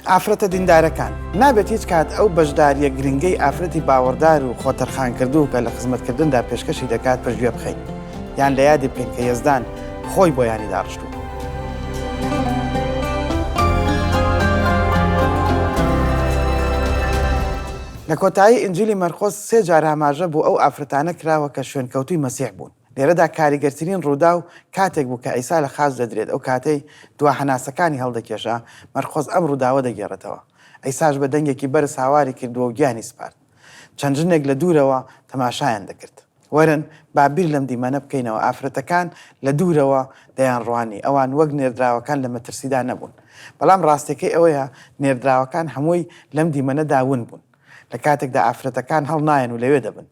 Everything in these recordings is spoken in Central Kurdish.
ئافرەتە دیندارەکان، نابێت هیچ کات ئەو بەشدارییە گرنگەی ئافرەتی باوەڕدار و خۆتەرخانکردوو کە لە خزمەتکردندا پێشکەشی دەکات پشتگوێ بخەین، یان لە یادی بکەین کە یەزدان خۆی بۆیانی داڕشتووە. لە کۆتایی ئینجیلی مەرقۆس سێ جار ئاماژە بۆ ئەو ئافرەتانە کراوە کە شوێنکەوتووی مەسیح بوون. لێرەدا کاریگەرترین ڕووداو کاتێک بوو کە عیسا لە خاچ دەدرێت، ئەو کاتەی دوا هەناسەکانی هەڵدەکێشا، مەرقۆس ئەم ڕووداوە دەگێڕێتەوە، عیساش بە دەنگێکی بەرز هاواری کردووە و گیانی سپارد. چەند ژنێک لە دوورەوە تەماشایان دەکرد. وەرن با بیر لەم دیمەنە بکەینەوە، ئافرەتەکان لە دوورەوە دەیانڕوانی، ئەوان وەک نێردراوەکان لە مەترسیدا نەبوون. بەڵام ڕاستییەکەی ئەوەیە نێردراوەکان هەمووی لەم دیمەنەدا ون بوون، لە کاتێکدا ئافرەتەکان هەڵنایەن و لەوێ دەبن.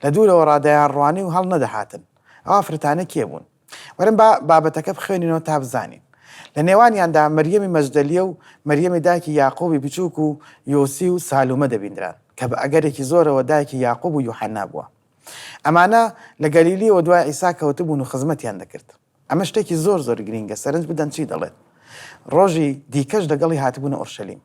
لە دوورەوە ڕا دەیانڕوانی و هەڵ نەدەهاتن ئەو ئافرەتانە کێ بوون. وەرن با بابەتەکە بخوێنینەوە تا بزانین. لە نێوانیاندا مەریەمی مەجدەلیە و مەریەمی دایکی یاقووبی بچووک و یۆسی و سالومە دەبیندران کە بە ئەگەرێکی زۆرەوە دایکی یاقووب و یوحەنا بووە. ئەمانە لە گەلیلیەوە دوای عیسا کەوتبوون و خزمەتیان دەکرد. ئەمە شتێکی زۆر زۆر گرینگە، سەرنج بدەن چی دەڵێت، ڕۆژی دیکەش دەگەڵی هاتبوونە ئۆرشەلیم.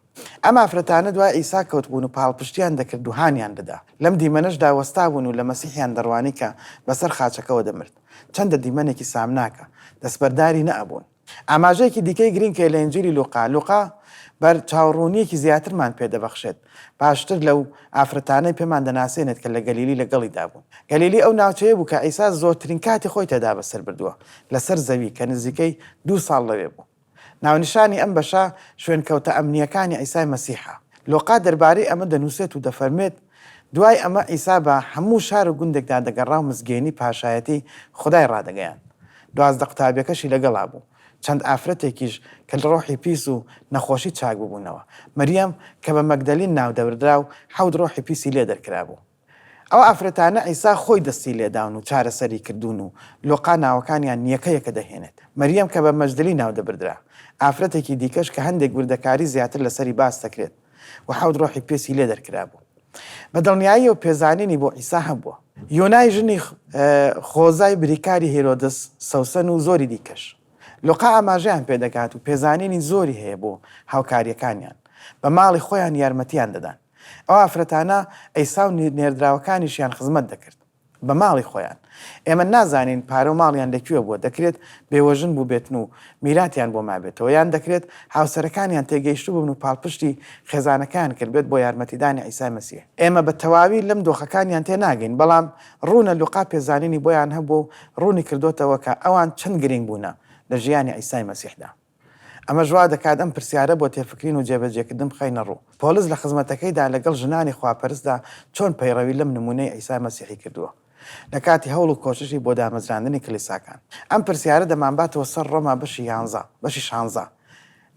ئەم ئافرەتانە دوای عیسا کەوتبوون و پاڵپشتییان دەکرد و هانیان دەدا. لەم دیمەنەشدا وەستابوون و لە مەسیحیان دەڕوانی کە بەسەر خاچەکەوە دەمرد. چەندە دیمەنێکی سامناکە! دەستبەرداری نەئەبوون. ئاماژەیەکی دیکەی گرینگ هەیە لە ئینجیلی لوقا. لوقا بەرچاوڕوونییەکی زیاترمان پێدەبەخشێت. باشتر لەو ئافرەتانەی پێمان دەناسێنێت کە لە گەلیلی لەگەڵیدا بوون. گەلیلی ئەو ناوچەیە بوو کە عیسا زۆرترین کاتی خۆی تێدا بەسەر بردووە لەسەر زەوی، کە نزیکەی دوو ساڵ لەوێ بوو. ناونیشانی ئەم بەشە شوێنکەوتە ئەمنییەکانی عیسای مەسیحە. لۆقا دەربارەی ئەمە دەنووسێت و دەفەرموێت، دوای ئەمە عیسا بە هەموو شار و گوندێکدا دەگەڕا و مزگێنی پاشایەتیی خودای ڕادەگەیاند. دوازدە قوتابییەکەشی لەگەڵا بوو. چەند ئافرەتێکیش کە لە ڕۆحی پیس و نەخۆشی چاک ببوونەوە. مەریەم کە بە مەگدەلین ناو دەبردرا و حەوت ڕۆحی پیسی لێ دەرکرابوو. ئەو ئافرەتانە عیسا خۆی دەستی لێ داون و چارەسەری کردوون و لۆقا ناوەکانیان یەکە یەکە دەهێنێت. مەریەم کە بە مەجدلی ناو دەبردرا. ئافرەتێکی دیکەش کە هەندێک وردەکاری زیاتر لەسەری باس دەکرێت. و حەوت ڕۆحی پێستی لێ دەرکرابوو. بە دڵنیاییەوە پێزانینی بۆ عیسا هەبووە. یۆنای ژنی خۆزای بریکاری هیرۆدس، سەوسەن و زۆری دیکەش. لوقا ئاماژەیان پێ دەکات و پێزانینی زۆری هەیە بۆ هاوکارییەکانیان. بە ماڵی خۆیان یارمەتییان دەدان. ئەو ئافرەتانە عیسا و نێردراوەکانیشیان خزمەت دەکرد. بە ماڵی خۆیان. ئێمە نازانین پارە و ماڵیان لە کوێ بووە، دەکرێت بێوەژن بووبێتن و میراتیان بۆ مابێتەوە، یان دەکرێت هاوسەرەکانیان تێگەیشتبوون و پاڵپشتی خێزانەکەیان کردبێت بۆ یارمەتیدانی عیسای مەسیح. ئێمە بە تەواوی لەم دۆخەکانیان تێناگەین، بەڵام ڕوونە لوقا پێزانینی بۆیان هەبووە و ڕوونیکردۆتەوە کە ئەوان چەند گرینگ بوونە لە ژیانی عیسای مەسیحدا. ئەمەش وا دەکات ئەم پرسیارە بۆ تێفکرین و جێبەجێکردن بخەینە ڕوو، پۆلس لە خزمەتەکەیدا لەگەڵ ژنانی خواپەرستدا چۆن پەیڕەوی لەم نموونەی عیسای مەسیحی کردووە لە کاتی هەوڵ و کۆششی بۆ دامەزراندنی کلیساکان؟ ئەم پرسیارە دەمانباتەوە سەر ڕۆما بەشی یانزە، بەشی شانزە.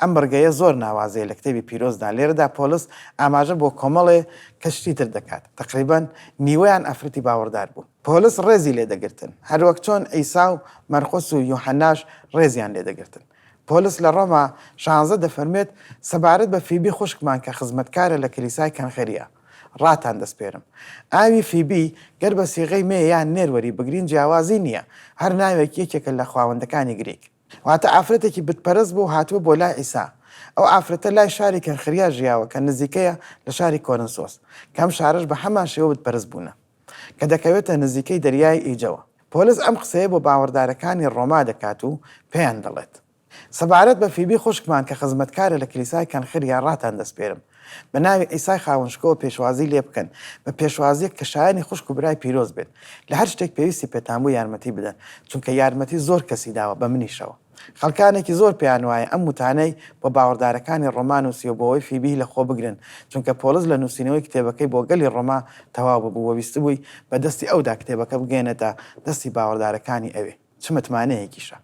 ئەم بڕگەیە زۆر ناوازەیە لە کتێبی پیرۆزدا، لێرەدا پۆلس ئاماژە بۆ کۆمەڵێ کەشتی تر دەکات، تەقریبەن نیوەیان ئافرەتی باوەڕدار بوون. پۆلس ڕێزی لێ دەگرتن، هەروەک چۆن عیسا و مەرقس و یوحەناش ڕێزیان لێ دەگرتن. پۆلس لە ڕۆما شانزە دەفەرموێت، سەبارەت بە فیبی خوشکمان کە خزمەتکارە لە کلیسای کەنخریا، ڕاتان دەسپێرم. ئاوی فیبی، گەر بە سیغەی مێ یان نێر وەریبگرین جیاوازی نییە، هەر ناوێکی یەکێکە لە خواوەندەکانی گریک. واتە ئافرەتێکی بتپەرست بوو هاتبوو بۆ لای عیسا. ئەو ئافرەتە لای شاری کەنخریا ژیاوە کە نزیکەیە لە شاری کۆرنسۆس، کە ئەم شارەش بە هەمان شێوە بتپەرست بوونە. کە دەکەوێتە نزیکەی دەریای ئیجەوە. پۆلس ئەم قسەیە بۆ باوەڕدارەکانی ڕۆما دەکات و پێیان دەڵێت، سەبارەت بە فیبی خوشکمان کە خزمەتکارە لە کلیسای کەنخریا ڕاتان دەسپێرم، بە ناوی عیسای خاوەن شکۆوە پێشوازی لێ بکەن، بە پێشوازییەک کە شایەنی خوشک و برای پیرۆز بێت. لە هەر شتێک پێویستی پێتان بوو یارمەتی بدەن، چونکە یارمەتی زۆر کەسی داوە، بە منیشەوە. خەڵکانێکی زۆر پێیان وایە ئەم وتانەی بۆ باوەڕدارەکانی ڕۆما نووسیوە بۆوەی فیبیی لە خۆ بگرن، چونکە پۆڵس لە نووسینەوەی کتێبەکەی بۆ گەلی ڕۆما تەواو ببوو و ویستبووی بە دەستی ئەودا کتێبەکە بگەیەنێتە دەستی باوەڕدارەکانی ئەوێ. چ متمانەیەکیشە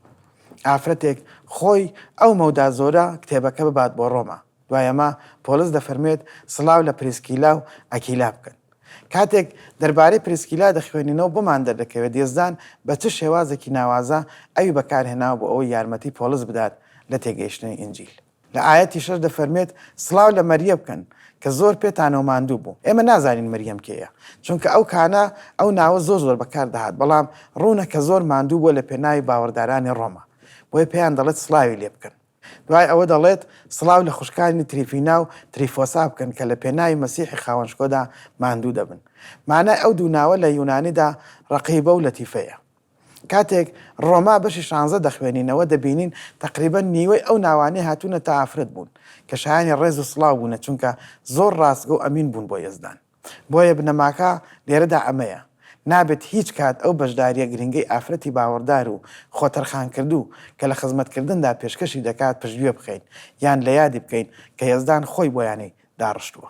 ئافرەتێک خۆی ئەو مەودا زۆرە کتێبەکە ببات بۆ ڕۆما! دوای ئەمە پۆڵس دەفەرموێت سڵاو لە پریسکیلا و ئەکیلا بکەن. کاتێک دەربارەی پریسکیلا دەخوێنینەوە بۆمان دەردەکەوێت یەزدان بە چ شێوازێکی ناوازە ئەوی بەکارهێناوە بۆ ئەوەی یارمەتی پۆڵس بدات لە تێگەیشتنی ئینجیل. لە ئایەتی شەش دەفەرموێت سڵاو لە مەریە بکەن کە زۆر پێتانەوە ماندوو بوو. ئێمە نازانین مریەم کێیە چونکە ئەو کانە ئەو ناوە زۆر زۆر بەکار دەهات بەڵام ڕوونە کە زۆر ماندوو بووە لە پێناوی باوەڕدارانی ڕۆما بۆیە پێیان دەڵێت سڵاوی لێ بکەن. دوای ئەوە دەڵێت، سڵاو لە خوشکانی تریفینا و تریفۆسا بکەن کە لە پێناوی مەسیحی خاوەنشکۆدا ماندوو دەبن. مانای ئەو دوو ناوە لە یونانیدا ڕەقیبە و لەتیفەیە. کاتێک ڕۆما بەشی شانزە دەخوێنینەوە دەبینین تەقریبەن نیوەی ئەو ناوانەی هاتوونەتە ئافرەت بوون کە شایانی ڕێز و سڵاو بوونە چونکە زۆر ڕاستگۆ و ئەمین بوون بۆ یەزدان. بۆیە بنەماکە لێرەدا ئەمەیە، نابێت هیچ کات ئەو بەشدارییە گرنگەی ئافرەتی باوەڕدار و خۆتەرخانکردوو کە لە خزمەتکردندا پێشکەشی دەکات پشتگوێ بخەین، یان لە یادی بکەین کە یەزدان خۆی بۆیانی داڕشتووە.